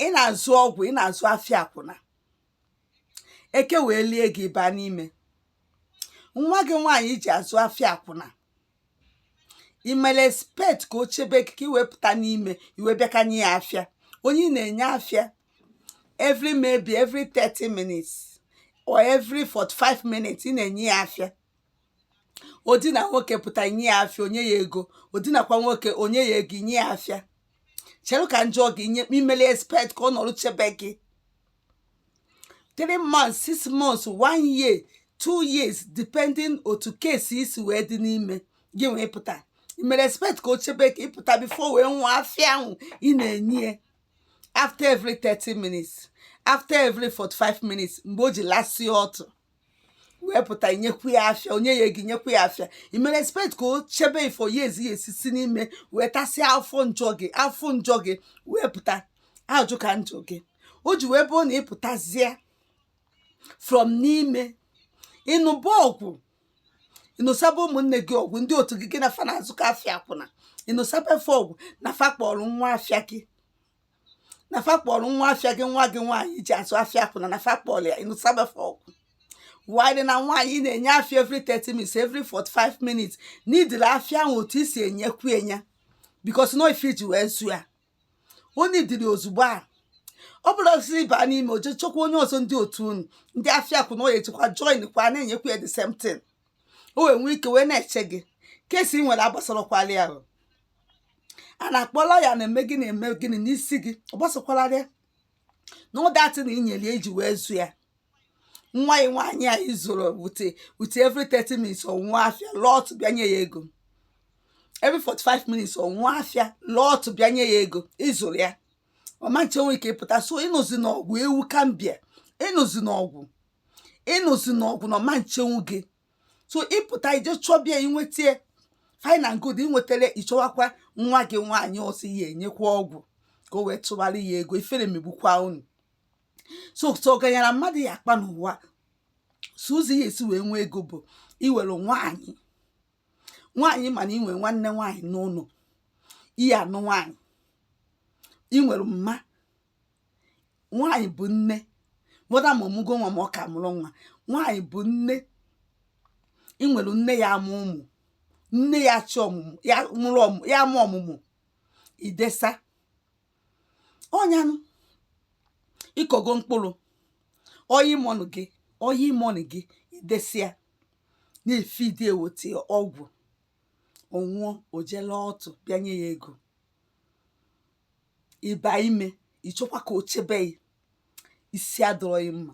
ị na-azụ ọgwụ ị na-azụ afịa akwụna eke wee lie gị baa n'ime nwa gị nwaanyị i ji azụ afịa akwụna imele expect ka o chebe gị ka i wee pụta n'ime i wee bịakwa nye ya afịa onye ị na-enye afịa every maybe every 30 minutes or every 45 minutes ị na-enye ya afịa o dina nwoke pụta i nye ya afịa o nye ya ego o dinakwa nwoke o nye ya ego i nye ya afịa chere ka m jụọ gị imeli expect ka ọ nọrụ chebe gị 3 months 6 months 1 year 2 years depending otu case gị si wee dị n'ime gị wee pụta imere expect ka o chebe gị ka ị pụta before o wee nwụọ afịa ahụ ị na-enye after every 30 minutes after every 45 minutes mgbe o ji lasị ọtụ wee pụta i nyekwu ya afịa o nye ya ego i nyekwu ya afịa i mere expect ka o chebe gị for years ya esisi n'ime wee tasịa afụfụ njọ gị wee pụta ajụ ka m jụọ gị o ji wee bụrụ na ị pụtazie from n'ime ị nụba ọgụ ị nụsaba ụmụnne gị ọgụ ndị otu gị gị na fa na-azụkọ afịa akwụna ị nụsaba fa ọgụ na fa kpọrọ nwa afịa gị na fa kpọrọ nwa afịa gị nwa gị nwaanyị i ji azụ afịa akwụna na fa kpọrọ ya ị nụsaba fa ọgụ wide na nwaanyị na-enye afịa every 30 minutes every 45 minutes n'idiri afịa ahụ otu i si enyekwu enye ya because no ife i ji wee zụ ya onye idiri ozugbo a ọ bụla osisi ị baa n'ime o je chọkwa onye ọzọ ndị otu unu ndị afịa akwụna ọ ya-ejekwa join kwa na-enyekwa ya the same thing o wee nwee ike wee na-eche gị case ị nwere agbasarokwala ya ahụ a na-akpọ lawyer na-eme gịnị eme gịnị n'isi gị ọ gbasakwalara ya know that na inyeli i ji wee zụ ya nwa ya nwaanyị a ị zụrụ with with every 30 minutes ọ nwụa afịa laa ọtụ bịa nye ya ego every 45 minutes ọ nwụa afịa laa ọtụ bịa nye ya ego ị zụrụ ya ọ ma nchenwu gị ka ị pụta so ị nụzina ọgụ ewu Gambia ị nụzina ọgụ ị nụzina ọgụ na ọ ma nchenwu gị so ị pụta i je chọba ya i nweta fine and good i nwetarọ ị chọwakwa nwa gị nwaanyị ọzọ ị ya-enyekwa ọgwụ ka o wee tụbara ya ego ifere megbukwa unu so so ọganyara mmadụ ya akpa n'ụwa sọ ụzọ ị ya-esi wee nwee ego bụ i were nwaanyị nwaanyị mana i nwe nwanne nwaanyị n'ụlọ ị ya-anụ nwaanyị i nwere mma nwaanyị bụ nne whether ma ọ mụgo nwa ma ọ ka mụrọ nwa nwaanyị bụ nne i were nne ya amụ ọmụmụ nne ya achị ọmụmụ ya mụrụ ọmụ ya amụ ọmụmụ i desa ọnyanụ ị kọgo mkpụrụ ọ ya ịmọnụ gị ọ ya ịmọnụ gị i desia na-efeed i weta ọgwụ ọ nwụọ o je laa ọtụ bịa nye ya ego ịba ime ị chọkwa ka o chebe gị isi adịrọ gị mma